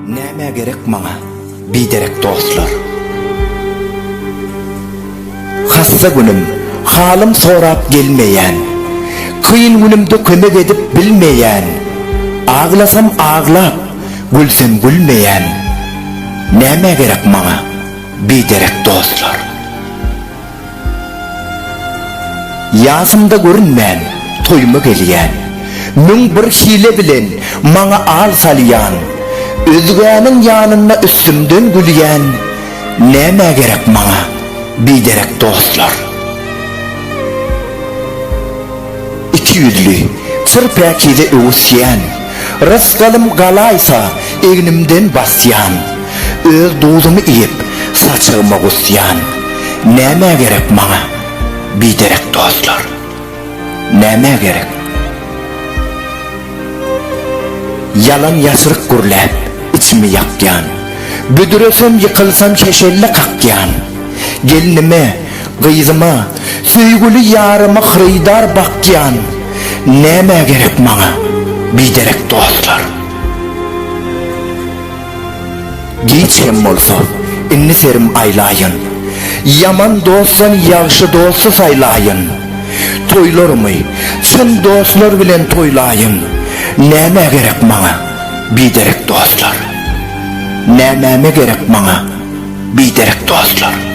Nämä gerek maňa biderek dostlar? Hassa günüm, halym sorap gelmeýän, Kyn günümde kömek edip bilmeýän, Aglasam aglap, gülsem gülmeýän, Nämä gerek maňa biderek dostlar? Ýasymda görünmän, toýuma gelýän. Müň bir hile bilen maňa al salýan. Özgäniň ýanynda üstümden gülýän. Nämä gerek maňa biderek dostlar? Iki ýüzli, çyr päkize öwüsýän. Rysgalym galaýsa, egnimden basýan. Öz duzumy iýip, saçagyma gusýan. Nämä gerek maňa biderek dostlar? Nämä gerek? Ýalan ýaşryk gürläp, içimi ýakýan. Büdresem, ýykylsam şeşelle kakýan. Gelnime, gyzyma, söýgüli ýaryma hyrydar bakýan. Nämä gerek maňa biderek dostlar? Giç hem bolsa, indi serim aýlaýyn. Ýaman dostdan ýagşy dosty saýlaýyn. Toýlarymy çyn dostlar bilen toýlaýyn. Nämä gerek maňa biderek dostlar? Nämäme gerek maňa biderek dostlar?